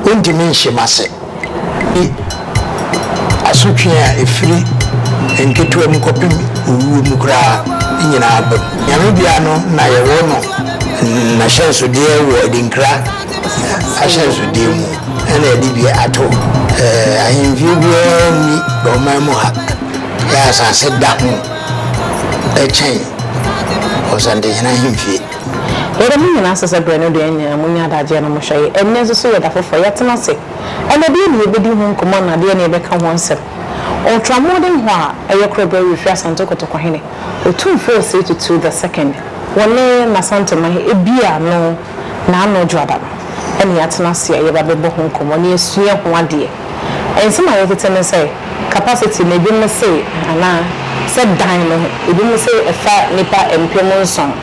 Wontumi nhyem ase. Eyi ne asotwe a ɛfiri nketewa mu kɔpem owuo mu koraa nyinaa ba mu. Nyame bea no na yɛwɔ no nahyɛnsodeɛ wɔ adinkra ahyɛnsodeɛ mu na yɛde bi ato. Ahemfie biara nni ɔman mu ha yɛ asase da ho kyɛn Ɔsantehene ahemfie. Yɛ dɛm nyina ase sɛ berɛ no deɛ nyɛ, monnya adagyeɛ na monhwɛ yɛ. Ɛnnɛ nso so yɛ da foforɔ, yɛtena ase. Ɛnna deɛn na yɛbɛdi ho nkɔmmɔ anaa deɛn na yɛbɛka ho asɛm? Ɔtra mmɔden hɔ a ɛyɛ korɛ berɛ refiri Asante Kɔtɔkɔhene, Otumfoɔ Osei Tutu the Second, wɔ ne Asante man he, ebia no na ano dwoada no na yɛatena ase a yɛba bɛbɔ ho nkɔmmɔ na yɛasua ho adeɛ. Nsɛm a yɛtete ne sɛ capacity no ebinom se anaa sɛ dan no ho, ebinom se ɛfa nnipa mpem nson.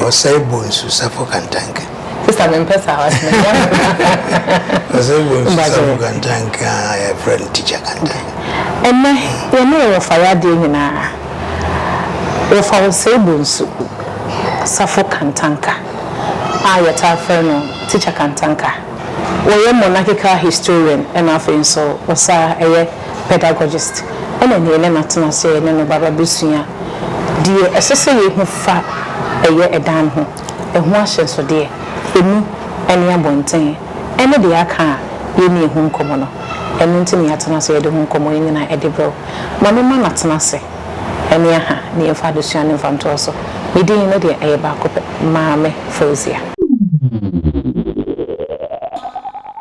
Ɔsɛe bonsu safo kantanke. Sista me mpɛ saa wase me yam koraa. Ɔsɛe bonsu safo kantanke a yɛ frɛ no teacher kantanke. Ɛnɛ yɛ ne yɛ wɔfa yɛ adeɛ nyinaa wɔfa ɔsɛe bonsu safo kantanka a yɛ taa frɛ no teacher kantanka wɔyɛ monarchical historian ɛna afei nso ɔsaa ɛyɛ. Pedagogist na nea yɛne no atena ase a yɛne no bɛba abɛsua deɛ ɛsɛ sɛ yɛhu fa ɛyɛ ɛdan ho, ɛho ahyɛnsodeɛ, ɛmu ne abɔnten, ɛne deɛ aka a yɛnni ɛho nkɔmmɔ no. Ɛno nti na yɛatena ase a yɛde ho nkɔmmɔ yi nyinaa ɛde brɛ wo. Ma memma no atena ase ne aha na yɛmfa adesua no mfa ntoa so. Me din no deɛ ɛyɛ baako pɛ, Maame Fauziah.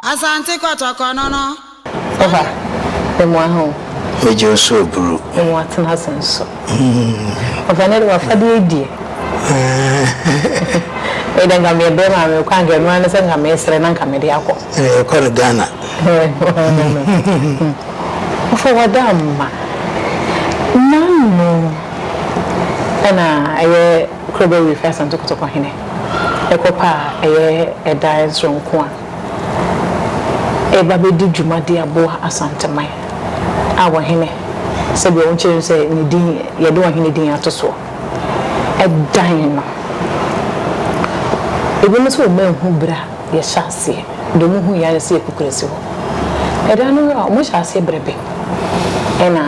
Asante kɔtɔkɔnɔnɔ. Ɔfa, me moa ho. Me gye nso oburu. Me moa tena ase nso. Ɔfa, ne de wafadeɛ die. Me de nka me brɛ maa me kɔ anka ɛno ara ne sɛ nka me srɛ na nka me de akɔ. Ɛɛ kɔ no Ghana. Ɔfa wada mma. Nano ɛna ɛyɛ Krobo Reef Asantekotokohene ɛkɔ paa ɛyɛ ɛdan soronko a. reba abedi dwuma de aboa Asanteman a ɔhene, sɛdeɛ wɔkyerɛ no sɛ ne din, yɛde ɔhene din ato soɔ, dan no. Ebinom sɛ wɔn anhu berɛ a yɛhyɛ aseɛ, deɛ wɔn hui ara ne sɛ yɛkɔ kurasi hɔ. Ɛda no a wɔn hyɛ aseɛ berɛ bɛn ɛna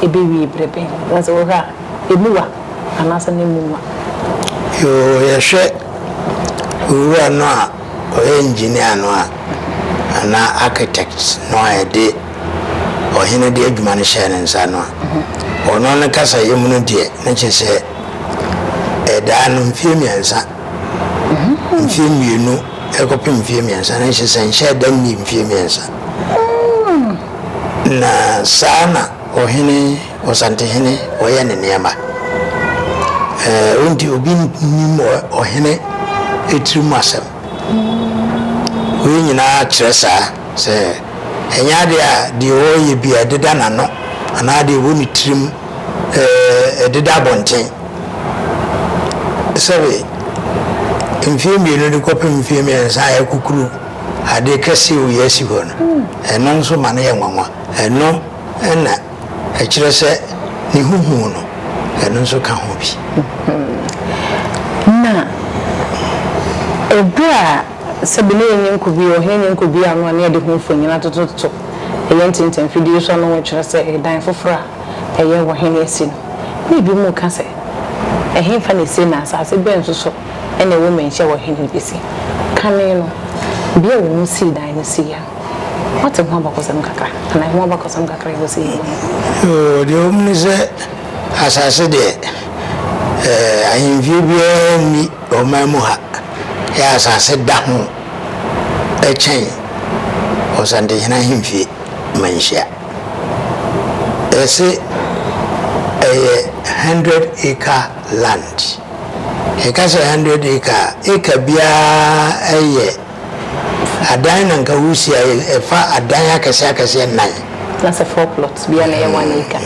ɛbɛwie berɛ bɛn? Na sɛ wohwɛ a ɛmu wa anaasɛ na ɛmu nwa? Yoo, yɛhwɛ owura no a. Ɔyɛ engineer no a anaa architect no a yɛde ɔhene de adwuma no hyɛɛ ne nsa no a, ɔno ne kasayɛ mu no deɛ, na kyerɛ sɛ ɛdaa no mfeɛ mmiɛnsa, mfeɛ mmienu kɔpem mfeɛ mmiɛnsa, na kyerɛ sɛ nhyɛɛ da nnii mfeɛ mmiɛnsa. Na saa na ɔhene. Ɔsantehene ɔyɛ ne nneɛma ɛɛ nti obi nnim ɔhene etiri mu asɛm wei nyinaa kyerɛ saa sɛ ɛnyɛ adeɛ a deɛ ɔreyɛ bi a ɛdeda n'ano anaa deɛ ɛwɔ ne tirim ɛɛ ɛdeda abɔnten sɛbe mfie mmienu de kɔpem mfie mmiɛnsa a ɛkukuru adeɛ kɛseɛ wei asi hɔ no ɛno nso ma no yɛ nwanwa ɛno ɛna Ɛkyerɛ sɛ ne ho hu no, ɛno nso ka ho bi. Na bere a sɛbe na yɛnyɛ nkubua, ɔhene nyɛ nkubua no a, na yɛde ho mfonini atotototo yɛn tintim mfidie so a na wɔkyerɛ sɛ dan foforɔ a ɛyɛ ɔhene asi no. Na ebinom reka sɛ, Ɛhefa na ɛsi, na asase bɛn nso so na ɛwɔ manhyia a ɔhene no bɛsi? Kane no, bea a wɔsii dan no sii a, Wate ho abakɔsɛm kakra anaa ɛho abakɔsɛm kakra a ɛwɔ sɛ yɛnya yi? Oo, deɛ ɛwɔ mu ne sɛ, asase deɛ, eh, ahemfie biara nni ɔman mu ha. Yɛ asase da ho kyɛn Ɔsantehene ahemfie manhyia. Yɛse ɛyɛ hundred acre land. Yɛka sɛ hundred acre a, acre biara yɛ. Adan na nka Usia yɛ, ɛfa adan akɛseɛ akɛseɛ nnan. Na sɛ four plots biara na ɛyɛ one acre.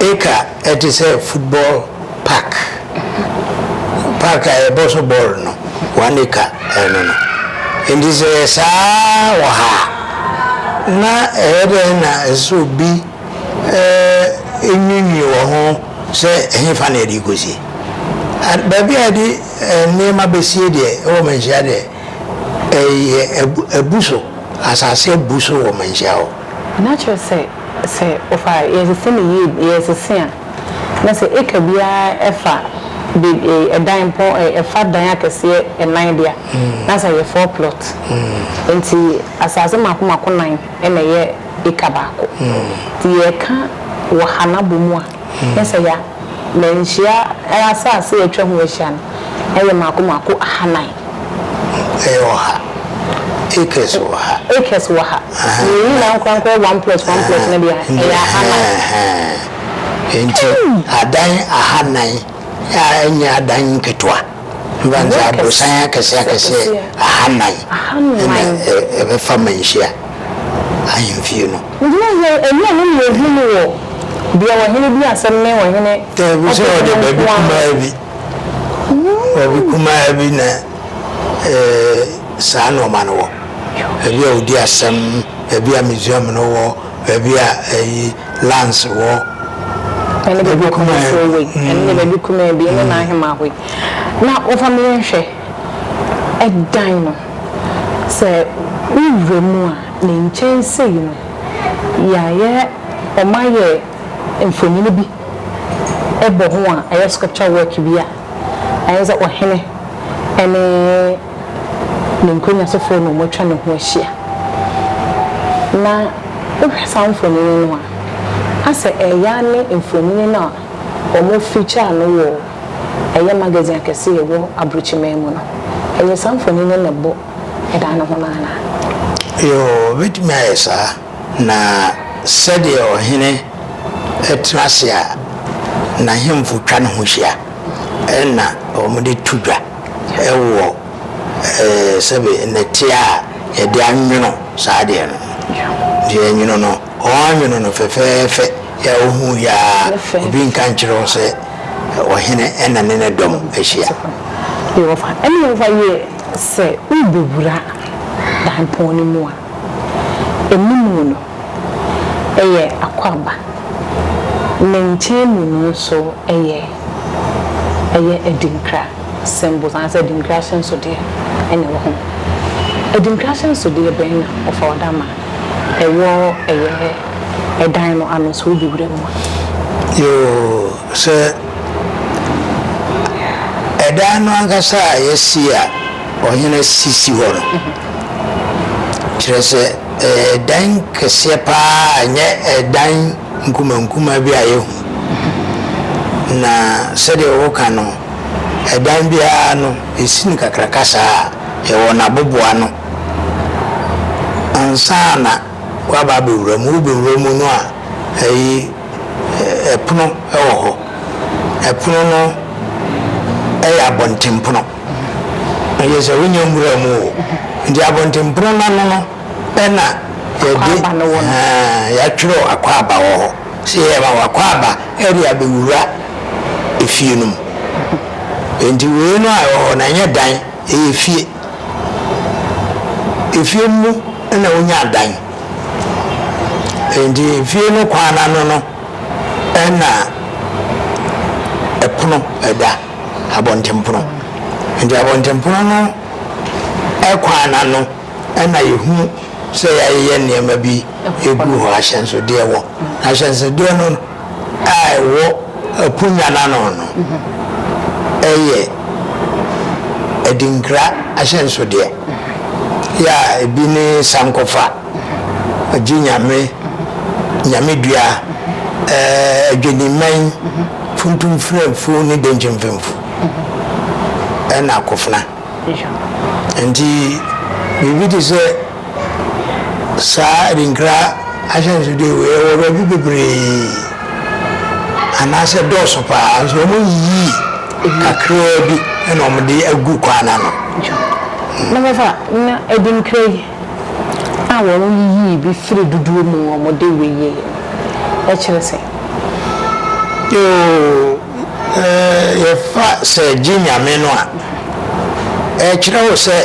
Acre ɛte sɛ football park, park a yɛbɔ so bɔɔl no, one acre ɛno no. Nti sɛ ɛyɛ saa wɔ ha a, na ɛyɛ dɛn na ɛsɛ sɛ obi nwiinwii wɔ ho sɛ ɛhefa na yɛde rekɔsie? Baabi a yɛde. Nneɛma bɛsie deɛ ɛwɔ manhyia deɛ ɛyɛ abu so asase abu so wɔ manhyia hɔ. Na kyerɛ sɛ sɛ ɔfa yɛresese no yie yɛresese a na sɛ acre biara ɛfa baabi ɛdan mpɔ ɛfa dan akɛseɛ ɛnan deɛ a na sɛ ɛyɛ four plot nti asase mako mako nan na ɛyɛ acre baako nti yɛreka wɔ ha no abɔ mu a Yesaya, na nhyia asase a atwa ho ahyia no yɛ mako mako ahanan. Ɛyɛ ɔha acres wɔ ha. Acres wɔ ha. Ɛhɛn, Yɛn nyinaa nkorankora one plot one plot no deɛ a, ɛyɛ ahanan. Ɛhɛn. Enti adan ahanan a ɛnyɛ adan nketewa, mfɛnsɛ abrɔsan akɛseɛ akɛseɛ ahanan ɛna ɛbɛfa manhyia ahemfie no. Nti na sɛ ɛnyɛ ɔno na ɔhu no wɔ deɛ ɔhene di asɛm ne ɔhene ɔpɛfoɔ nko ara. Daabi, sɛ ɔde baabi kumaa bi, baabi kumaa bi na saa nnoɔma no wɔ, baabi a ɔdi asɛm, baabi a museum no wɔ. Baabi a ɛyi lands wɔ. Ɛne baabi a ɔkɔmɔ soro wɔ yi. Ɛne baabi kumaa bi ne n'ahema hɔ yi. Na wɔfa me yɛn hwɛ. Ɛdan no, sɛ wowura mu a, ne nkyɛn sei no, yɛayɛ, wɔayɛ mfonini bi bɔ ho a ɛyɛ sculpture work bi a, ayɛ sɛ ɔhene ne. ne nkonnwa sofoɔ na wɔatwa ne ho ahyia. Na wohwɛ saa mfonini no a, asɛ ɛyɛ ara ne mfonini no a wɔfeature no wɔ ɛyɛ magazine akɛse a ɛwɔ abrokyiman mu no. Ɛyɛ saa mfonini no na ɛbɔ dan no ho no anaa? Yoo, ɛbɛtumi ayɛ saa. Na sɛdeɛ ɔhene tena ase a, n'ahemfo twa ne ho hyia na wɔde to dwa. Wɔ sɛbe nnɛte a yɛde anwono saa adeɛ no, deɛ yɛnwono no, wɔanwono no fɛfɛɛfɛ a wohu yɛ ara, obi nka nkyerɛ wo sɛ ɔhene na ne ne dɔm ahyia. Ɛnna Yehowa yɛɛ sɛ worebɛwura daapɔn no mu a, anim no. yɛ akwaaba. Ne nkyɛn mu no nso yɛ ɛyɛ adinkra symbols anaasɛ adinkra ahyɛnsodeɛ na ɛwɔ ho. Adinkra ahyɛnsodeɛ bɛn na wɔfa wɔde ama ɛwɔ ɛyɛ ɛdan no ano sɛ wobi wura mu a? Yoo, sɛ ɛdan no ankasa a yɛasi a ɔhene sisi hɔ no, kyerɛ sɛ dan kɛseɛ pa ara a ɛnyɛ dan nkumankumaa bi a yɛhu, na sɛdeɛ woka no, dan biara no, yɛsi no kakraka saa a, yɛwɔ n'aboboano. Ansa na woaba abɛwura mu, wobɛwura mu no a, ayi, pono wɔ hɔ. Pono no yɛ abɔntenpono. na kyerɛ sɛ wonyɛ nwura mu o nti abɔntenpono no ano no ɛna yɛde yɛatwerɛ akwaaba wɔ hɔ sɛ yɛyɛ ma wakwaaba ɛde abɛwura efie no mu nti wei no a ɛwɔ hɔ no ɛnyɛ dan ɛyɛ fie efie mu na wonya dan nti efie no kwan no ano no ɛna ɛpono ɛda abɔntenpono. Nti abɔntenpono no kwan no ano na yɛhu sɛ yɛayeyɛ nneɛma bi gu hɔ, ahyɛnsodeɛ wɔ. Na ahyɛnsodeɛ no a ɛwɔ aponya no ano no yɛ adinkra ahyɛnsodeɛ. Yɛ a ebi ne sankɔfa. Ogye Nyame, Nyame dua, ɛɛ Adwennimman, Funtum Frɛmfo ne Denkye Mfɛmfo ɛna Akofena. Nti biribi te sɛ saa Adinkra ahyɛnsodeɛ wei ɛwɔ baabi bebree anaasɛ dɔɔso paa nso wɔn yiyi kakraa bi ɛna wɔn de agu kwan no ano. Na mɛfa na Adinkra yi a wɔyiyii bi firii dodoɔ mu a wɔde wieeɛ no kyerɛ sɛ? Yoo, yɛfa sɛ gye Nyame no a, ɛkyerɛ wo sɛ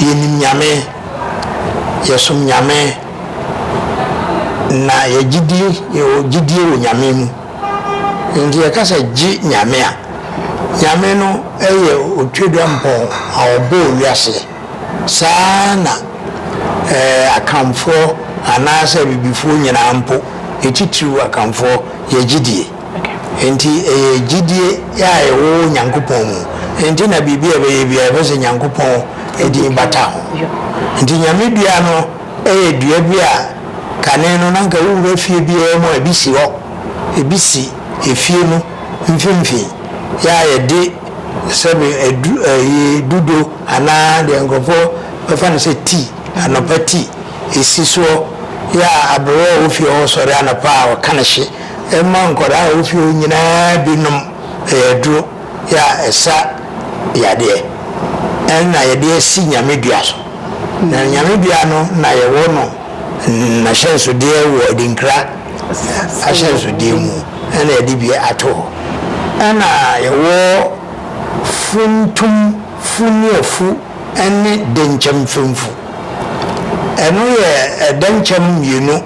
yɛnim Nyame, yɛsom Nyame, na yɛgye di, yɛwɔ gyedie wɔ Nyame mu. Nti yɛka sɛ gye Nyame a, Nyame no yɛ Otwedeɛmpɔn a ɔbɔɔ wiaseɛ. Saa ara na Akanfoɔ anaasɛ Abibifoɔ nyinaa mpo, ne titiriw Akanfoɔ, yɛ gyidie. Enti ɛyɛ gyidie a ɛwɔ Nyankopɔn mu nti na biribi a ɛbɛyɛ biara ɛbɛpɛ sɛ Nyankopɔn din bata ho. Nti Nyame dua no yɛ dua bi a kane no na anka wowura fie biara mu a ebi si hɔ. Ebi si efie no mfimfini, yɛ a yɛde. Sɛbe adu ɛyi dudo anaa deɛ nkorɔfoɔ bɛfa no sɛ tea, anɔpa tea, ɛsi soɔ yɛ a aberewa a ɔwɔ fie hɔ sɔre anɔpa a ɔka no hye ɛma nkwadaa a ɔwɔ fie hɔ nyinaa bi nom. Ɛyɛ aduro yɛ a ɛsa yadeɛ ɛna yɛde asi Nyame dua so. Na Nyame dua no na yɛwɔ no nahyɛnsodeɛ wɔ Adinkra. ahyɛnsodeɛ mu na yɛde bi ato hɔ. Ɛna yɛwɔ funtum fu nuafu ne denkyɛm fɛmfu. Ɛno yɛ ɛdɛnkyɛm mmienu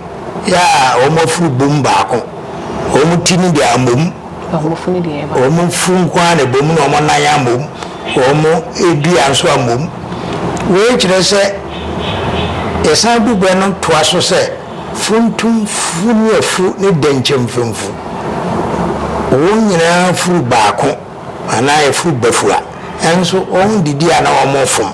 yɛ a wɔn afuru bom baako. Wɔn ti no deɛ amom. Wɔn furu nko ara na ɛbom na wɔn nan amom. Wɔn dua nso amom. Wei kyerɛ sɛ yɛsan bu bɛ no toa so sɛ. Funtumfo ne afu ne dɛnkyɛ mfɛmfo, wɔn nyinaa furu baako anaa ɛforo bɛfu a, ɛnso wɔn didi a na wɔn fom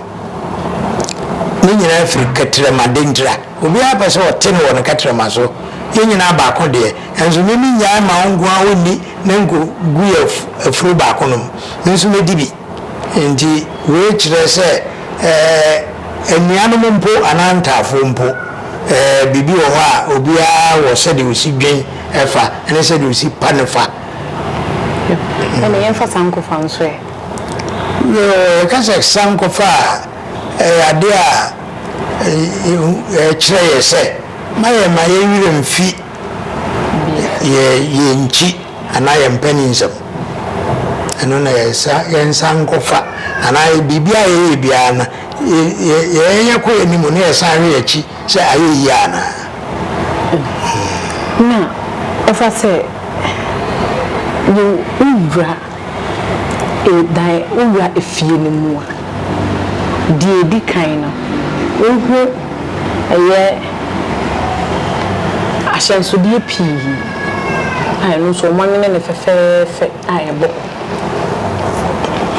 ne nyinaa firi kɛtrɛma dentira. Obiara pɛ sɛ ɔte no wɔ ne kɛtrɛma so, yɛn nyinaa baako deɛ, ɛnso me me nyae ma wo nkoa ɔnni na nko gu yɛ afuro baako nom, me nso mɛdi bi. Enti wei kyerɛ sɛ anuanom mpo anaa ntafoɔ mpo, biribi wɔ hɔ a obiara wɔ sɛdeɛ ɔsi dwen fa ne sɛdeɛ ɔsi pa no fa. Ɛnna yɛmfa sankɔfa nso ɛ? Yɛka sɛ sankɔfa a, ɛyɛ adeɛ a ɛkyerɛ yɛn sɛ ma yɛmma yɛn werɛ mfi yɛn nkyi. anaa yɛn mpanin nsam. Ɛno na yɛsa yɛnsa nkɔfa anaa biribi a yɛyɛ biara no yɛ yɛ yɛyɛ kɔ yɛn anim na yɛsan hwɛ yɛn akyi sɛ ayɛ yie anaa. Na ɛfa sɛ yɛ wowura dan wowura efie no mu a. Deɛ ɛdi kan no, wohu ɛyɛ ahyɛnsodeɛ pii a ɛno nso wɔanwene no fɛfɛɛfɛ a ɛbɔ hɔ.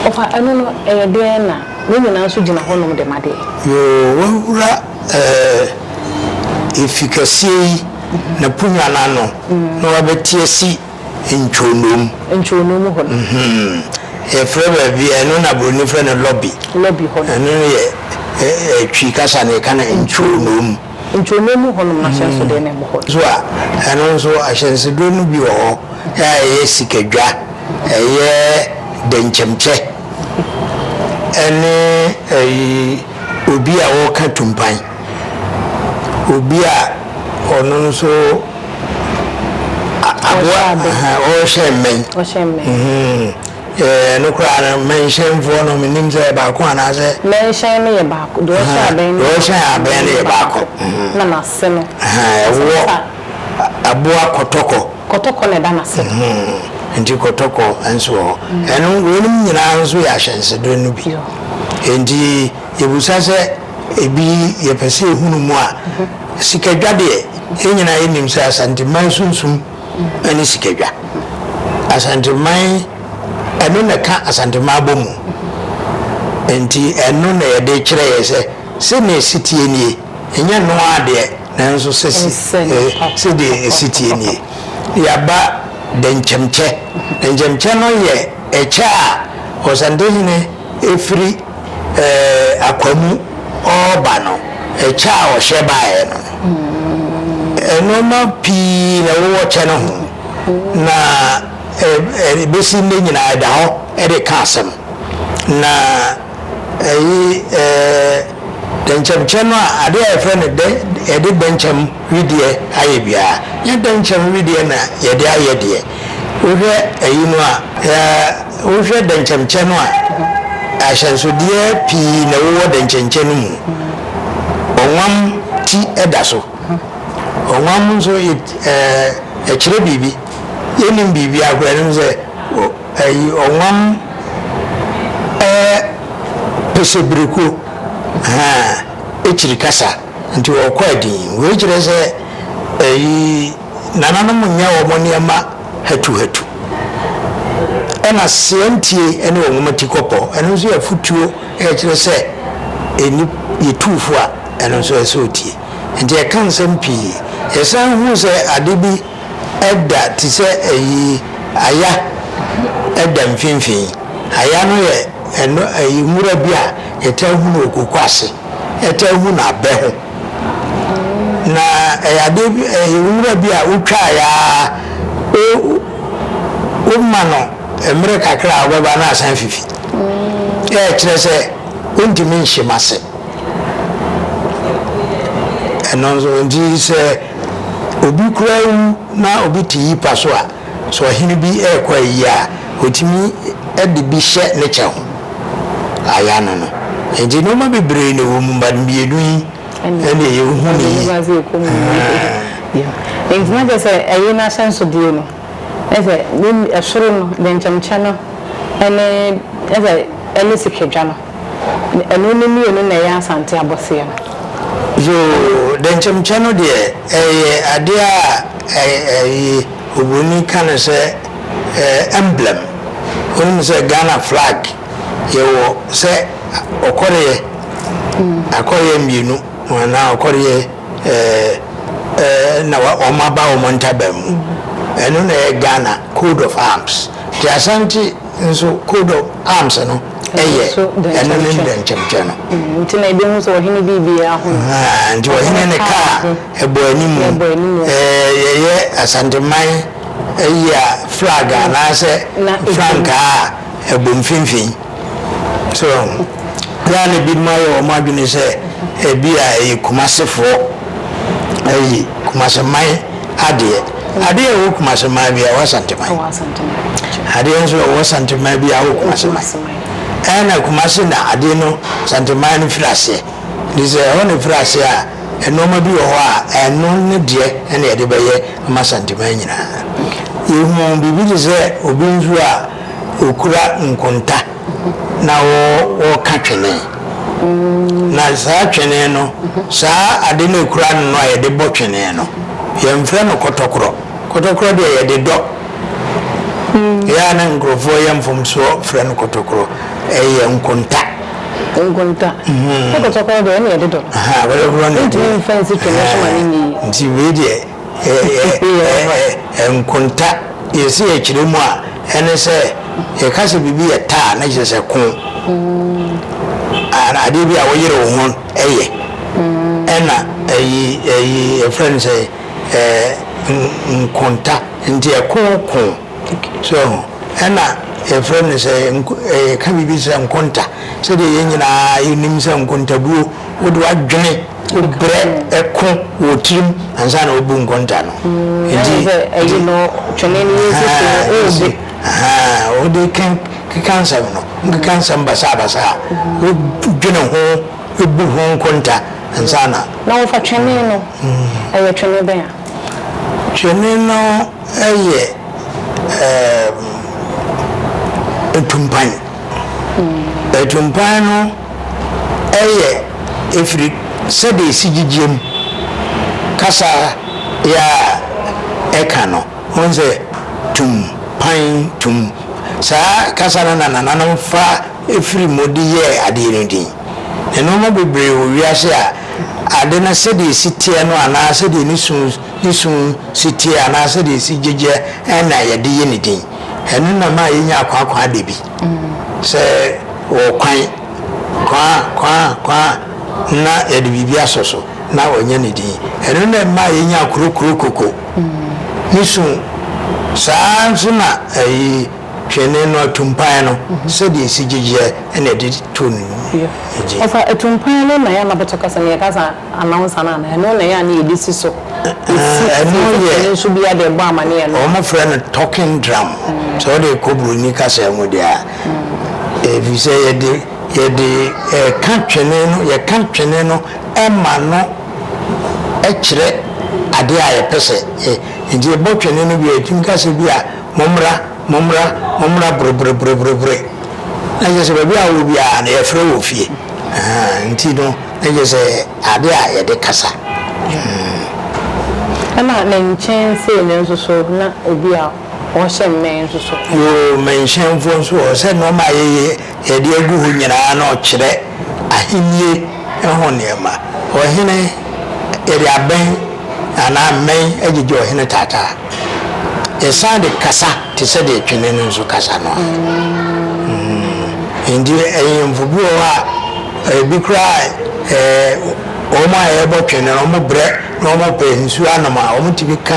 Ɔfa, ɛno no ɛyɛ dɛn na ne nyinaa nso gyina hɔnom de ma deɛ? Yoo, woawura ɛɛ, efi kɛseɛ yi, n'aponnwa no ano, na woabɛte asi Ntwo Nom. Ntwo Nom hɔ no. Yɛfrɛ baabi, ɛno na Buroni frɛ no lobby. Lobby hɔ no. Ɛno no yɛ Twi kasa no yɛka no Ntwo Nom. Ntwo Nom mu hɔ nom no ahyɛnsodeɛ no ɛwɔ hɔ. So a, ɛno nso ahyɛnsodeɛ no bi wɔ hɔ a ɛyɛ sikadwa, ɛyɛ dɛnkyɛmkyɛ ɛne ɛyi obi a ɔreka tumpan. obi a ɔno nso aboa ɔrehyɛ mmɛn ɛno koraa no mmɛnhyɛnfoɔ no menim sɛ yɛ baako anaasɛ mmɛnhyɛn no yɛ baako deɛ ɔhyɛ abɛn no ɔhyɛ abɛn no yɛ baako na n'ase no ɛwɔ aboa kɔtɔkɔ kɔtɔkɔ na ɛda n'ase nti kɔtɔkɔ nso wɔ hɔ ɛno wɔnom nyinaa nso yɛ ahyɛnsedeɛ no bi nti yɛbusa sɛ Ebi yɛpɛ sɛ yɛhunu mu a, sikadwa deɛ, yɛn nyinaa yɛnim sɛ Asanteman sunsum ne sikadwa. Asanteman, ɛno na ɛka Asanteman abɔ mu. Nti ɛno na yɛde kyerɛ yɛ sɛ, sɛ nea ɛsi teɛ nie, ɛnyɛ ɛno ara deɛ, nanso sɛ si, sɛ deɛ ɛsi teɛ nie. Yɛaba dɛnkyɛmkyɛ. Dɛnkyɛmkyɛ no yɛ ɛkyɛ a Ɔsantehene. Ɛfiri akwa mu ɔɔba no, ɛkyɛ a ɔhyɛ baeɛ no, nnoɔma pii na ɛwowɔ kyɛ no ho, na ɛbɛsi nnɛ nyinaa ɛda hɔ de ka asɛm. Na ɛyi dɛnkyɛmkyɛ no a, adeɛ a yɛfrɛ no dɛ, yɛde dɛnkyɛm wedeɛ ayɛ biara, nyɛ dɛnkyɛm wedeɛ na yɛde ayɛ deɛ. Wohwɛ eyi no a, sɛ wohwɛ dɛnkyɛmkyɛ no a, ahyɛnsodeɛ pii na ɛwowɔ dɛnkyɛnkyɛ no mu. Ɔnwam ti da so. Ɔnwam nso it ɛɛ ɛkyerɛ biribi. Yɛnnim biribiara koraa anim sɛ o ɛyi ɔnwam ɛɛ pesebireko haa ekyiri kasa nti ɔkɔ adin. Wei kyerɛ sɛ ɛyi Nananom nyɛ wɔn nneɛma hatuhatu. Ɛna seɛ ntie ne wɔn nwoma ti kɔpɔ. Ɛno nso yɛ afotuo a ɛkyerɛ sɛ ɛni yɛ tuu fo a, ɛno nso ɛsɛ sɛ ɔtie. Nti ɛka nsɛm pii. Yɛsan hu sɛ ade bi da te sɛ ayi aya da mfimfini. Aya no yɛ ɛno ayi nwura bi a yɛtaa hu no wɔ koko ase. Yɛtaa hu no abɛ ho. Na ɛyɛ adeɛ bi ɛyɛ nwura bi a wotwaeɛ ara wo woma no mmerɛ kakra a ɔbɛba na asan afifi. Ɛkyerɛ sɛ wontumi nhyem ase. Ɛno nso nti sɛ obi koraa wu na obi te yipa so a. So ɔhene bi rekɔ ayi a, ɔtumi de bi hyɛ ne kyɛ ho? Ayɛ ano no. Nti nnoɔma bebree na ɛwɔ mu, but mmienu yi ɛne ɛyɛ hu no yie. Nti na kyerɛ sɛ ɛyɛ n'ahyɛnsodeɛ no, ne sɛ ɛsoro no, dɛnkyɛmkyɛ no, ɛne sikadwa no. Na ɛno no mmienu na ɛyɛ Asante abɔseɛ no. Yoo, dɛnkyɛmkyɛ no deɛ, ɛyɛ adeɛ a ɛyi, Oburoni ka no sɛ emblem. Wonim sɛ Ghana flag yɛwɔ sɛ ɔkɔreɛ, akɔreɛ mmienu anaa ɔkɔreɛ na wɔn aba wɔn ntaban mu. Ɛno na ɛyɛ Ghana code of arms. Nti Asante. Nso coat of arms no yɛ ɛno ne dɛnkyɛmkyɛm no. Mm, nti na ebehu sɛ ɔhene biribiara ho. Nti ɔhene ne kaa ɛbɔ anim. Yɛyɛ Asanteman ayi a flag mm. anaasɛ frankaa a ɛbɔ mfimfini. So yɛa na ebinom ayɛ wɔn adwene sɛ ebi a ɛyɛ Kumasefoɔ ayi Kumaseman Adeɛ. Adeɛ a ɔwɔ Kumase man bi a ɔwɔ Asanteman. Adeɛ nso ɔwɔ Santeman bi a ɔwɔ Kumase man. Ɛna Kumase na adeɛ no Santeman no firi aseɛ. Nti sɛ ɛhɔ na ɛfiri aseɛ a, nnoɔma bi wɔ hɔ a ɛno ne deɛ na yɛde bɛyɛ ama Santeman nyinaa. Yɛhuu biribi te sɛ obi nso a ɔkura nkonta. na wɔka twene. Na saa twene no, saa ade no a ɛkura ano no a yɛde bɔ twene no, yɛmfrɛ no kɔtɔkorɔ. Kɔtɔkorɔ deɛ yɛde dɔ. Ɛyɛ a na nkurɔfoɔ yɛ mfomsoɔ frɛ no kɔtɔkorɔ. Ɛyɛ nkonta. Nkonta. Na kɔtɔkorɔ deɛ ɛne yɛde dɔ. Kɔtɔkorɔ ne yɛde dɔ. Ntumi mfa nsi twene so ma no nyɛ yie. Nti wei deɛ. nkonta yɛsi yɛ kyerɛ mu a ɛne sɛ yɛka sɛ biribi yɛ ta a na kyerɛ sɛ ko mm. adeɛ bi a woyere wo ho yɛ mm. ɛna ɛyi ɛyi ɛfrɛ no sɛ nkonta nti ɛko ko so ɛna yɛfrɛ no sɛ yɛka biribi sɛ nkonta sɛdeɛ yɛn nyinaa yɛnim sɛ nkontabuo wode wadwene Wobrɛ ɛko wɔ tirim ansa na wobu nkonta no. Nti sɛ ɛyi no twene no yɛ sisi no wode. Wode keka nsɛm no, wonkeka nsɛm basaabasaa. Wodwene ho, wobu ho nkonta ansa na. Na wɔfa twene no, ɛyɛ twene bɛn a? Twene no yɛ atumpan. Atumpan no. yɛ firi sɛdeɛ ɛsi gyigyeɛ mu kasa yɛ a ɛka no. Wohu sɛ tum, pan, tum. Saa kasa no na nananom fa firi mu de yɛɛ adeɛ no din. Nnoɔma bebree wɔ wiase a ade no sɛdeɛ ɛsi teɛ no anaa sɛdeɛ ne su ne su si teɛ anaa sɛdeɛ ɛsi gyigyeɛ na yɛde yɛ ne din. Ɛno na ɛma yɛnya akwaakwaadabi. Sɛ ɔwɔ kwan, kwan a, kwan a, kwan a, na yɛde biribi asɔ so, na wɔanya ne din. Ɛno na ɛmaa yɛnyaa kuro, kuro, koko, ne su. Saa ara nso na ayi, twene no, atumpan no, sɛdeɛ ɛsi gyegyeɛ na yɛde too no ne din. Wɔfa atumpan no na yɛn Anabɔtɔ kasa mu yɛka saa. Announcer no anaa? Ɛno na ɛyɛ a na yɛde si so. Ɛno yɛ. Ɛno nso biara de ɛbɔ amaneɛ no. Wɔfrɛ no talking drum. Sɛ wode rekɔ buroni kasa mu deɛ a. Ɛfiri sɛ yɛde yɛde ɛka twene no yɛka twene no ɛma no ɛkyerɛ adeɛ a yɛpɛ sɛ yɛ nti yɛbɔ twene no wie a yɛtumi ka sɛ bi a mommra. Mommra, mommra boroboroboroborobore. Na kyerɛ sɛ baabi a wowɔ biara no, yɛfrɛ wo wɔ fie. Ahaa, nti no, na kyerɛ sɛ ade a yɛde kasa. Hmm. Ɛna ne nkyɛn sei no nso so, na ebi a wɔhyɛ mmɛn nso so. Yoo, mmɛnhyɛnfoɔ nso wɔ hɔ. Sɛ nneɛma a yɛyɛ, yɛde agu hɔ nyinaa no kyerɛ ahennie ho nneɛma. Ɔhene, yɛde abɛn anaa mmɛn agyegye ɔhene taataa. Yɛsan de kasa te sɛ deɛ twene no nso kasa no a, nti ahemfo bi wɔ hɔ a, ebi koraa ɛɛ wɔn a yɛbɔ twene no, wɔn brɛ na wɔn pɛ nsuo anom a, wɔn ti bi ka.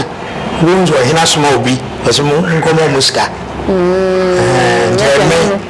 Wobɛhu sɛ ɔhene asoma obi, ɔsɛ mo nkɔma wɔn sika. Mm, nti ɛmɛ.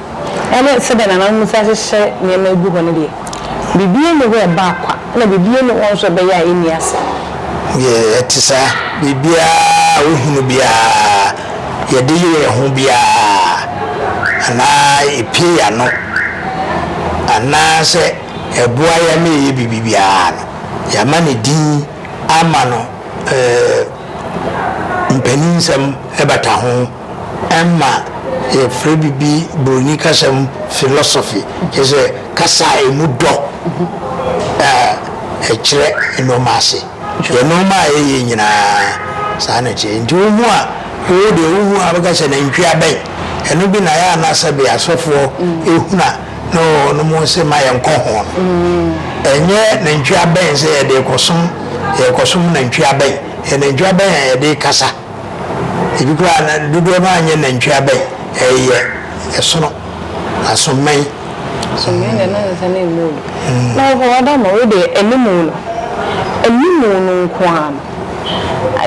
ne sɛdeɛ nananom bɛsi ahyehyɛ nneɛma agu hɔ no deɛ, biribiara nni hɔ a ɛbaa kwa, ɛnna biribiara nni hɔ nso a ɛbɛyɛ a ɛnni asɛm. Deɛ ɛte saa, biribiara a wohunu biara, yɛde yere yɛn ho biara, anaa epue yɛn ano, anaasɛ ɛboa yɛn ma yɛyɛ biribi biara no, yɛama ne din ama no, ɛɛ, mpanin nsɛm bata ho. Ɛmma yɛfrɛ biribi Buroni kasa mu philosophy, kyerɛ sɛ kasa a ɛmu dɔ a ɛkyerɛ nnoɔma ase. Yɛ nnoɔma a ɛyɛ nyinaa, saa na ɛteɛ. Nti wo ho a wowo deɛ wo hu a wobɛka sɛ nantwie abɛn. Ɛno bi na ɛyɛ a na sɛbe asɔfoɔ hunu a na wɔnom se ma yɛnkɔ ho no. Ɛnyɛ nantwie abɛn sɛ yɛde rekɔsom yɛrekɔsom nantwie abɛn. Ɛyɛ nantwie abɛn a yɛde rekasa. Ebi koraa na dodoɔ no ara nyɛ nantwie aba yi, ɛyɛ ɛsono, asommɛn. Asommɛn deɛ na nsɛ no mmɔ obi. Na ɔhɔ Adama wei deɛ animu no, animu no nko ara no,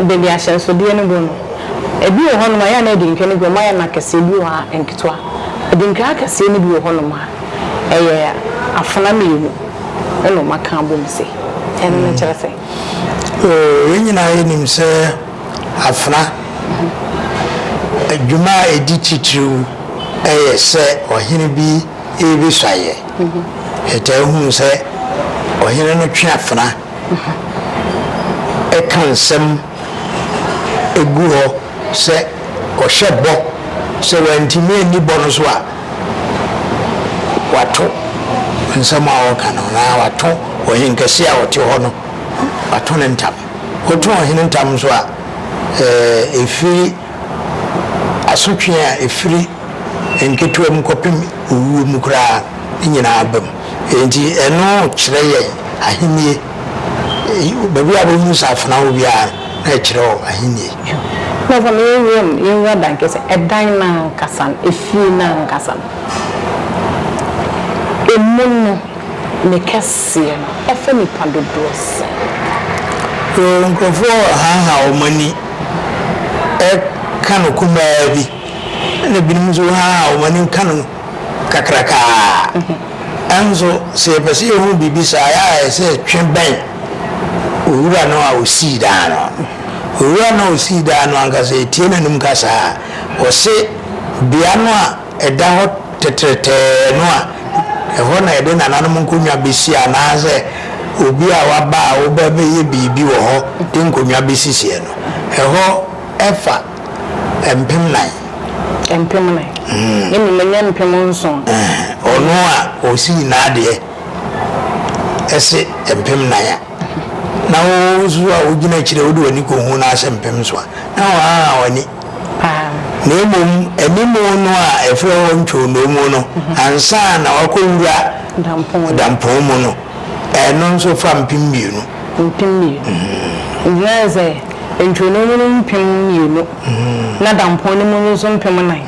baabi a ahyɛnsodeɛ no bɔ no, ebi wɔ hɔnom a yɛ a na adinkra no bi wɔn ayɛ no akɛseɛ, ebi wɔ hɔ a nketewa. Adinkra akɛseɛ no bi wɔ hɔnom a ɛyɛ afena mmienu ɛna wɔaka abom sei. Ɛno no kyerɛ sɛ. Oo, yɛn nyinaa yenim sɛ afena adwuma a edi titiriw yɛ sɛ ɔhene bi rebesuan yɛn. Yɛtaa hu sɛ ɔhene no twe afena ka nsɛm gu hɔ sɛ ɔhyɛ bɔ, sɛ wantumi anni bɔ no so a, Wɔato nsɛm a wɔka no, anaa wɔato ɔhenkɛse a ɔte hɔ no, wɔato no ntam. Woto ɔhene ntam nso a, ɛfiri asotwe a ɛfiri nketewa mu kɔpem owuo mu koraa no nyinaa ba mu. Enti ɛno kyerɛ yɛn ahennie. Baabi a wɔhunu sɛ afena wɔ biara no, na ɛkyerɛ hɔ Ahenni. Na sɛ meyɛ wiem nwura dan kɛseɛ, ɛdan no ankasa no, efie no ankasa no, emu no, ne kɛseɛ no, ɛfa nnipa dodoɔ sɛn? Yoo, nkurɔfoɔ rehaha wɔn ani reka no kumaa bi, ɛnna ebinom nso rehaha wɔn ani reka no. kakraka a. Nanso sɛ yɛpɛ sɛ yehu biribi saa a, ɛyɛ a yɛsɛ yɛtwe bɛn Owura no a osii dan no. Owura no a osii dan no ankasa, yetie n'anom kasa a, ɔse, Bea no a ɛda hɔ tɛtrɛtɛɛ no a ɛhɔ na yɛde nananom nkonnwa besi anaasɛ obi a waba a wobɛbɛyɛ biribi wɔ hɔ de nkonnwa besisiɛ no, ɛhɔ fa. Mpem nan. Mpem nan. Ne nim ɛnyɛ mpem nson. Ɔno a ɔsii n'adeɛ ɛse mpem nan a, na wo nso a wogyina akyire wode w'ani kɔhu no ase mpem nson a, na woahaha w'ani. Na mmom animu no a ɛfrɛ hɔ ntwonoomu no, ansa na wakɔwura dampɔn mu no, Ɛno nso fa mpem mmienu. Mpem mmienu. Ohia ne sɛ nturo no mu no mpem mmienu na dampɔn no mu no nso mpem nnan.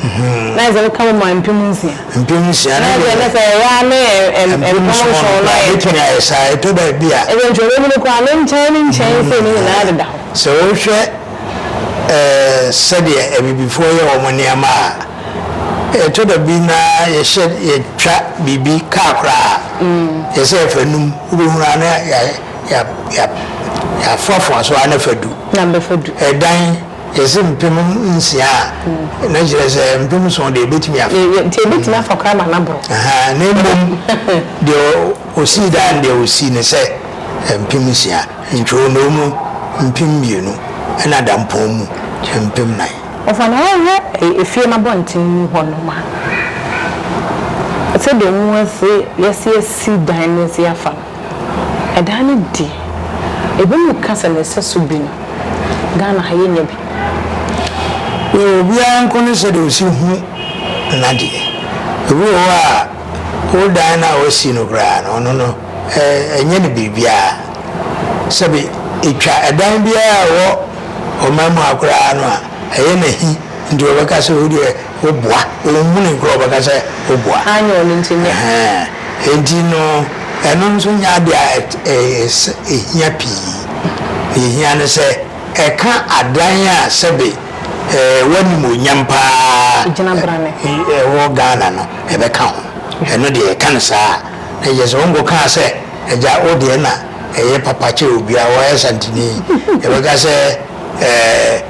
Na ayɛ sɛ woka bom a mpem nsia. Mpem nsia. Na ayɛ sɛ sɛ ɛyɛ a ne mpem nson no ayɛ pɛ. Ɛbɛtumi ayɛ saa, ɛtɔ baabi a. Ɛsɛ nturo no mu no koraa ne nkyɛn ne nkyɛn sei no nyinaa deda hɔ. Sɛ wohwɛ sɛdeɛ abibifoɔ yɛ wɔn nneɛma a. Ɛtɔ da bi na yɛhyɛ yɛtwa biribi kaa koraa a, yɛ sɛ yɛfa num, wobɛhunu ara na yɛafoafoa so ara na fa du. Ɛdan yɛ se mpem nsia a, na kyerɛ sɛ mpem nson deɛ ɛbɛtumi afa. Nti ɛbɛtumi afa koraa ma no aboro. Na mmom deɛ ɔsii dan deɛ ɔsii ne sɛ mpem nsia, ntwonoo mu mpem mmienu, ɛna dampɔn mu mpem nan. Wɔfa no hɔ hwɛ fie no abɔnten mu hɔnom a, sɛdeɛ ɔmo asi, yɛasi asi dan no asi afa no, ɛdan no di. Ebinom ka sɛ ne sɛso bi no, Ghana ha yɛnnya bi. Yɛ obiara nko ne sɛdeɛ ɔsi hu n'adeɛ. Obi wɔ hɔ a, wo dan no a w'asi no koraa no, ɔno no ɛnyɛ no biribiara. Sɛbe etwa ɛdan biara a ɛwɔ. ɔman mu ha koraa no a, ɛyɛ no ahi nti wɔbɛka sɛ wo deɛ woboa, wɔnhunu koraa wɔbɛka sɛ woboa. Anyɛ ɔno nti nyɛ. Ɛhɛn, enti no ɛno nso nyɛ adeɛ a ɛhia pii. Deɛ ɛhia ne sɛ ɛka adan a sɛbe w'animuonyam pa ara ɛwɔ Ghana no ɛbɛka ho. Ɛno deɛ ɛka no saa a, na kyerɛ sɛ wonkɔkaa sɛ agya wo deɛ na ɛyɛ papa kyɛn obiara, ɔyɛ Santini, yɛbɛka sɛ ɛɛ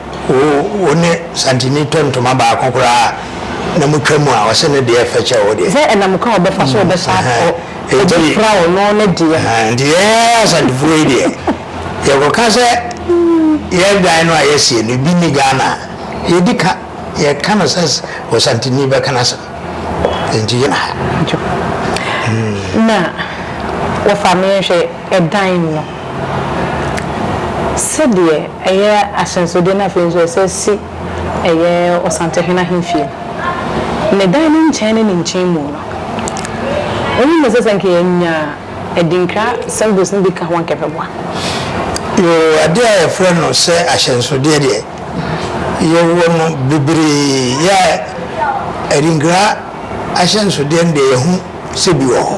wo ne Santini tɔ ntoma baako koraa na mo twa mu a, ɔsɛ ne deɛ fɛ kyɛn wo deɛ. Sɛ ɛnam kwan a ɔbɛfa so ɔbɛsa akɔ, ɔbɛpira ɔno ne deɛ. Nti yɛn Asantefoɔ yi deɛ, yɛkɔka sɛ yɛn dan no a yɛasie no, ebi nni Ghana a, yɛdi ka. Yɛka no sɛ Osantini bɛka n'asɛm. Enti yɛn ha. Na wɔfa me nhwɛ ɛdan mu no, sɛdeɛ ɛyɛ ahyɛnsodeɛ no afei nso ɛsɛ si ɛyɛ Ɔsantehene ahemfie no, ne dan no nkyɛn ne ne nkyɛnmu no, wonim no sɛ sɛ nka yɛnya adinkra symbols no bi ka ho anka ɛbɛboa? Yoo, adeɛ a yɛfrɛ no sɛ ahyɛnsodeɛ deɛ. yɛwɔ no bebree yɛ a adinkra ahyɛnsodeɛ no deɛ yɛho sɛ bi wɔ hɔ.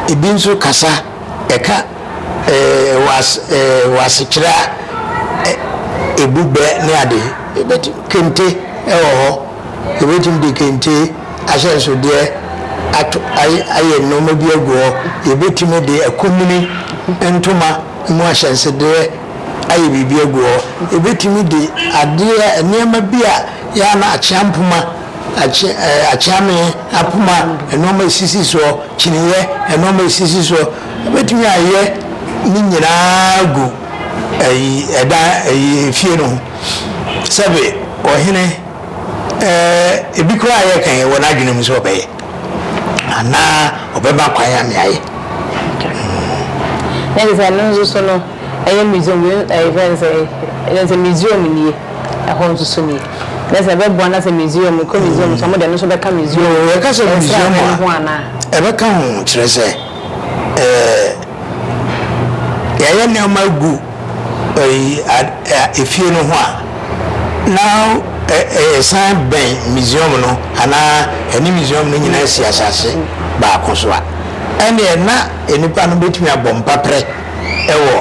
Ebi nso kasa ɛka ɛɛ was ɛɛ wasekyerɛ ɛ ebu bɛ ne ade. Ebɛti kente ɛwɔ hɔ. Ebɛtumi de kente ahyɛnsodeɛ ato ayɛ ayɛ nnoɔma bi agu hɔ. Yɛbɛtumi de akumini ntoma mu ahyɛnsodeɛ. ayɛ biribi agu hɔ. Yɛbɛtumi de adeɛ, nneɛma bi a yɛ a na akyea mpoma, akye, ɛɛ, akyea mee, apoma, nnoɔma a ɛsisi soɔ, kyiniiɛ, nnoɔma a ɛsisi soɔ, yɛbɛtumi ayɛ ne nyinaa agu ɛyi, ɛdan, ɛyi, efie no ho. Sɛbe, ɔhene, ɛɛ, ebi koraa a yɛka yi, wɔ n'adwene mu sɛ ɔbɛyɛ. Anaa ɔbɛma kwan ama yɛayɛ. Hmm. Na ɛsɛ sɛ ɛno nso so no, Ɛyɛ Misraim deɛ, ɛɛ yɛfrɛ no sɛn, ɛne sɛ Misraim nie, ɛhɔ nso so nie. Nɛ sɛ ɛbɛboa no asɛ Misraim, mekɔ Misraim nso a, ɔmo deɛ ɛno nso bɛka Misraim Yoo, yɛka sɛ Misraim nsrahwɛ no ho a, anaa? ɛbɛka ho, kyerɛ sɛ, ɛɛ yɛayɛ nneɛma agu ɛyi ad, ɛ, efie no ho a, na ɛ, ɛ, ɛsan bɛn Misraim no, anaa ɛne Misraim no nyinaa si asase baako so a, ɛneɛ na nnipa no bɛtumi abɔ mpaprɛ. wɔ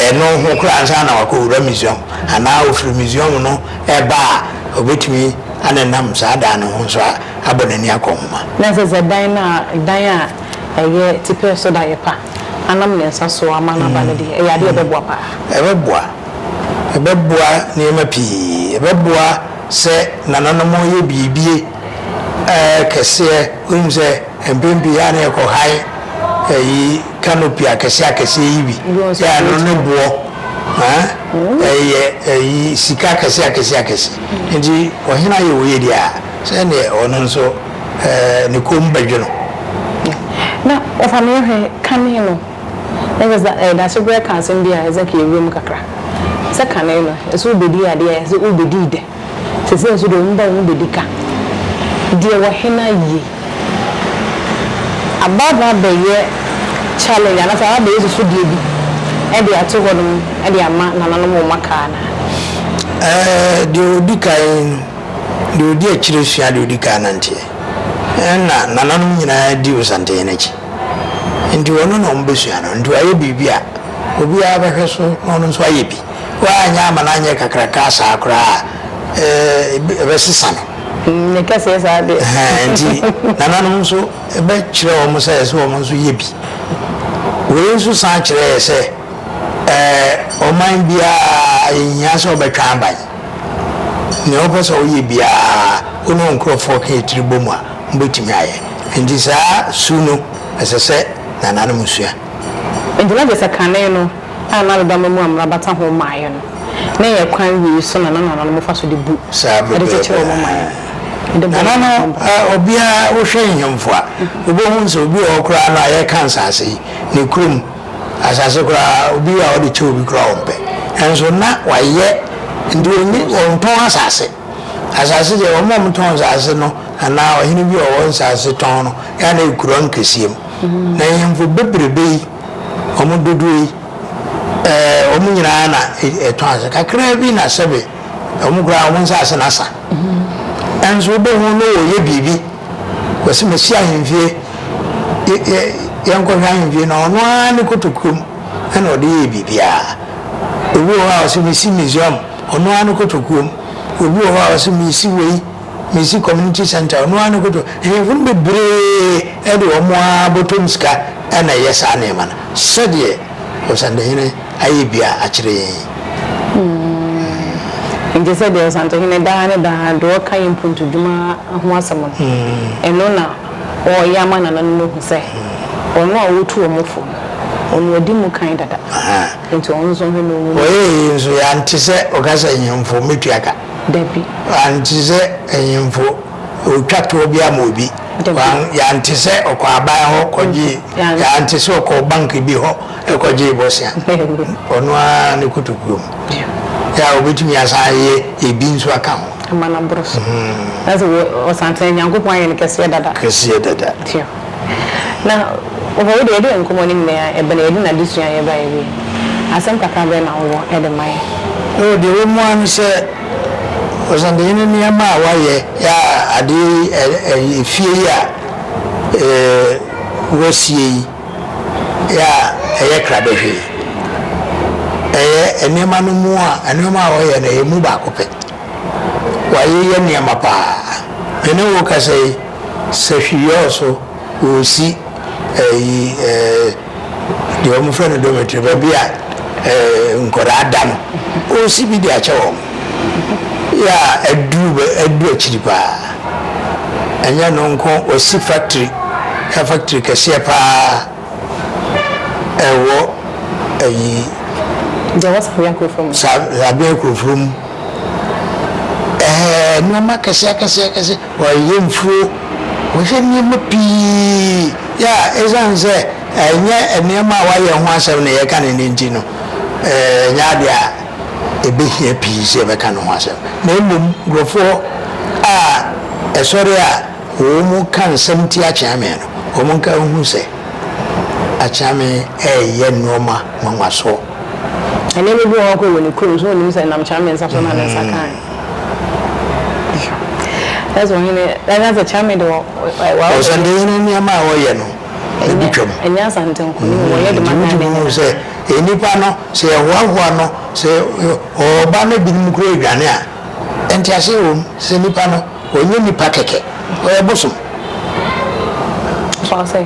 ɛno ho koraa ansa na wakɔwura Misriam, anaa ɔfiri Misriam no reba a, ɔbɛtumi anenam saa dan no ho nso abɔ n'ani akɔ ho ma. Na ɛsɛ sɛ dan no a, dan a ɛyɛ tipɛ so da yɛ pa, anam ne nsa so ama no aba no deɛ, ɛyɛ adeɛ a ɛbɛboa pa ara. Ɛbɛboa. Ɛbɛboa nneɛma pii. Ɛbɛboa sɛ nananom reyɛ biribi kɛseɛ, wonim sɛ mpɛn pii a na yɛkɔ han ayi Canopy akɛseɛ akɛseɛ yi bi yɛ ano no boɔ ɛyɛ sika akɛseɛ akɛseɛ akɛseɛ nti ɔhene ayɛ wei deɛ a sɛ neɛ ɔno nso ne kɔn mu bɛdwo no. Na wɔfa no yɛhwɛ kane no ɛyɛ daasebrɛ ka asɛm bi a ɛsɛ ka yɛwura mu kakra sɛ kane no ɛsɛ wobɛdi adeɛ a ɛsɛ wobɛdi dɛ Sesei nso deɛ ɔmo ba ɔmo bedi ka deɛ wɔ he na ye. Aba no abɛyɛ challenge anaasɛ aba abɛyɛ susudeɛ bi ɛde ato hɔ nom ɛde ama nananom ɔmo aka anaa? Ɛɛ deɛ ɔdi kan no deɛ ɔdi akyire sua deɛ ɔdi kan ananteɛ ɛna nananom nyinaa di osanten no akyi nti ɔno na ɔmo bɛsua no nti wayɛ biribi a obiara bɛhwɛ so na ɔno nso ayɛ bi. Woanyɛ ama no anyɛ kakrakaa saa koraa a, ɛɛ, ɛbɛsesa no. Ne kɛseɛ saa deɛ. Ɛhɛn, nti nananom nso bɛkyerɛ wɔn sɛ ɛsɛ sɛ wɔn nso yɛ bi. Wei nso san kyerɛ yɛ sɛ, ɛɛ, ɔman biara yɛhia sɛ wɔbɛtwa aban. Nea wopɛ sɛ woyɛ biara, wo ne wo nkorɔfoɔ ka yɛ tiri bɔ mu a, mobɛtumi ayɛ. Nti saa su no, ɛsɛ sɛ nananom sua. Enti na gyesɛ kane no a na adedama mu amena bata ho mmaeɛ no ne yɛ kwan wei so na na nananom fa so de bu de kyekyere wɔn man no de bɔ wɔn ho bra. Obiara, wohwɛ nhemfo a, wobɛhu sɛ obi wɔ hɔ koraa no a yɛka nsase yi, ne kurom asase koraa obi wɔ a ɔde kyɛ obi koraa ɔmpɛ. Nanso na wayɛ nti ɔntɔn asase. Asase deɛ wɔn a wɔtɔn nsase no anaa ɔhene bi a ɔwɔ nsase tɔn no yɛ a na ɛyɛ kuro ankɛseɛ mu. Na nhemfo bebrebe yi, wɔn dodoɔ yi, eh, wɔn nyinaa na ɛtɔn ase. Kakraa bi na sɛbe wɔn koraa wɔn nsase no asa. Nanso wobɛhu no wɔyɛ biribi. Wɔsi masi ahemfie, yɛ, yɛ, yɛnkɔhwɛ ahemfie no, ɔno ara ne kotokuom ɛna ɔde yɛɛ biribiara. Obi wɔ hɔ a ɔsi mesi museum. Ɔno ara no kotokuo mu. Obi wɔ hɔ a ɔse mesi wei, mesi community centre, ɔno ara no koto. Ahiafo no bebree de wɔn ara bɔtɔm sika na ɛyɛ saa nneɛma no sɛdeɛ Ɔsantehene ayɛ bia akyerɛ yɛn yi. Hmm. Nti sɛ deɛ Ɔsantehene daa ne daa de ɔka yɛn mpuntudwuma ho asɛm no, hmm. ɛno na ɔreyɛ ama nananom ahu sɛ hmm. ɔno a ɔtu wɔn fo no, ɔno adi mu kan dada. Enti ɔno nso ɔhwɛ no nwunu. Ɔyɛɛ yei nso yɛ ante sɛ ɔka sɛ nhemfo mɛtua ka. Dabi. Ante sɛ nhemfo ɔretwa toɔ bi ama obi. Dabi. Yɛ ante sɛ ɔkɔ aban hɔ kɔgyee, yɛ ante sɛ ɔkɔɔ bank bi hɔ kɔgyee bosea. Ɔno ara ne kotokuo mu. Yɛ a ɔbɛtumi asan ayɛ ebi nso aka ho. Ama no aboro so. Ɛsɛ sɛ ɔsan tena Nyankopɔn ayɛ no kɛseɛ dada. Kɛseɛ dada. Tua. Na hɔ de yɛde yɛn nkɔmmɔ no nyinaa yɛ bɛ na yɛde n'adesua a yɛbaeɛ wie. Asɛm kakra bɛn na wowɔ de ma yɛn? Oh, deɛ ɛwɔ mu ara ne sɛ, Ɔsantehene nneɛma a wayɛ, yɛ a adeɛ yi, ɛ-ɛ efie yi a eh, wɔasie yi, yɛ a ɛyɛ krabɛhwee. Ɛyɛ nneɛma no mu a, nneɛma a ɔyɛ no, ɛyɛ mu baako pɛ. Wayeyɛ nneɛma paa. Me ne wo rekasa yi. Sɛ hwi yɔɔ so wɔ osi ɛyi ɛɛ deɛ wɔn frɛ no dormitory baabi a ɛɛ nkwadaa da no osi bi de akyɛ wɔn yɛ a aduru bɛ aduru akyiri paa ɛnyɛ ɛno nko wɔsi factory ɛ factory kɛseɛ paa ɛwɔ ɛyi. Deɛ ɛwɔ Sabea kurofuro mu. Sa Sabea kurofuro mu ɛɛ nneɛma akɛseɛ akɛseɛ akɛseɛ. Wɔyɛ mfuo, wɔyɛ nneɛma pii a ɛsiane sɛ ɛnyɛ nneɛma a wɔayɛ ho asɛm na yɛka no no nti no, ɛnyɛ adeɛ a ɛbɛhia pii sɛ yɛbɛka ne ho asɛm. Na mmom nkurɔfoɔ a ɛsɔre a wɔka nsɛm tia Kyeame no, wɔnka nhu sɛ Akyeame reyɛ nnoɔma nwanwasoɔ. Ɛnneɛma bi wɔ hɔ a ɔkɔyɛ wɔ ne kurom, so wɔnnim sɛ ɛnam Kyeame nsa so na ne nsa kaeɛ. Ɛsɛ ɔhene ɛnyɛ sɛ kyame de wɔ wɔ. Ɔsɛndehene nneɛma a ɔyɛ no ebi twam. Ɛnyɛ asante nko ne mu ɔyɛ de ma ghana nyinaa. Nti wotumi hu sɛ nnipa no sɛ yɛhoahoa no sɛ ɔba na ebinom kura adwane a ntease wɔ mu sɛ nipa no ɔnyɛ nipa kɛkɛ ɔyɛ bosom. So ase.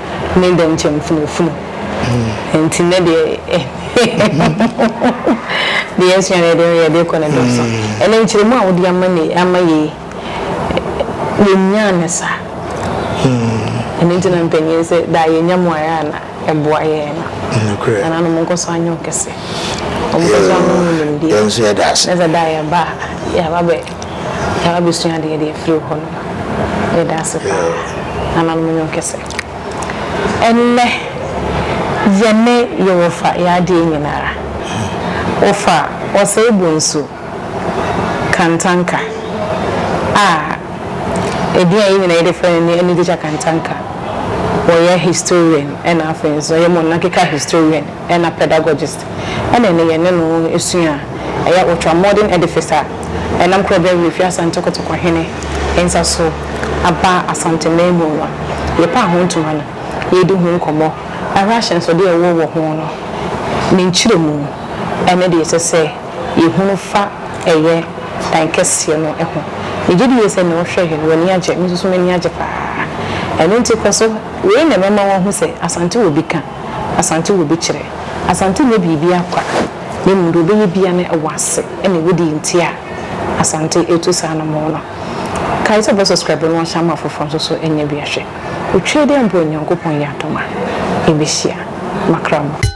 ne dɛm kyɛmfunafunu nti nɛ deɛ deɛ yɛsua no yɛde no yɛde kɔ ne dɔɔso ɛnɛ nkyerɛmu a wode ama ne ama yɛ yi yɛnyaa ne saa ɛno nti na mpanyin sɛ daa yɛnya mu ayɛ a na ɛboa yɛn no ɛna no monkɔ so anyɛ ɔkɛse ɔmokɔ so ama mu nimdeɛ na sɛ daa yɛba a yɛaba bɛ Yɛn abusua de yɛde afiri hɔ no yɛda ase paa nananom yɔn kɛsɛ ɛnnɛ yɛne yɛwɔfa yɛ adeɛ nyinara wɔfa ɔsɛe bonsu kantanka a ɛdin a yɛn nyinaa yɛde frɛ no ne anigyeja kantanka wɔyɛ historian ɛna afei nso ɔyɛ mɔnakeka historian ɛna pedagogist. ɛna ɛnnɛ yɛne no sua a, ɛyɛ ultra-modern edifice a ɛnam kura bɛn werɛ fi Asante Kotoko hene nsa so aba Asante man mu no. Yɛpaa ho ntoma no, yɛredi ho nkɔmmɔ, ahwɛ ahyɛnsode a ɛwɔ wɔ ho no, ne nkyerɛmu, ɛne deɛ ɛsɛ sɛ yɛhunu fa ɛyɛ dan kɛseɛ no ho. Megye di yie sɛ nea ɔhwɛeɛ no, w'ani agye. Me nso so m'ani agye paa. Ɛno nti kɔ so, wei na ɛbɛma woahu sɛ Asante wɔ bi ka. Asante wɔ bi kyerɛ. Asante nyɛ biribiara kwa, na mmom deɛ ɔbɛyɛ biara no ɛwɔ ase na ɛwɔ deɛ nti a Asante retu saa anammɔn no. Kae sɛ bɛ subscribe na wahyɛ ama afoforɔ nso so nyɛ bi ahwɛ. Otwaa dɛ mpo a Nyankopɔn yɛ adom a yɛbɛhyia. Makra mu.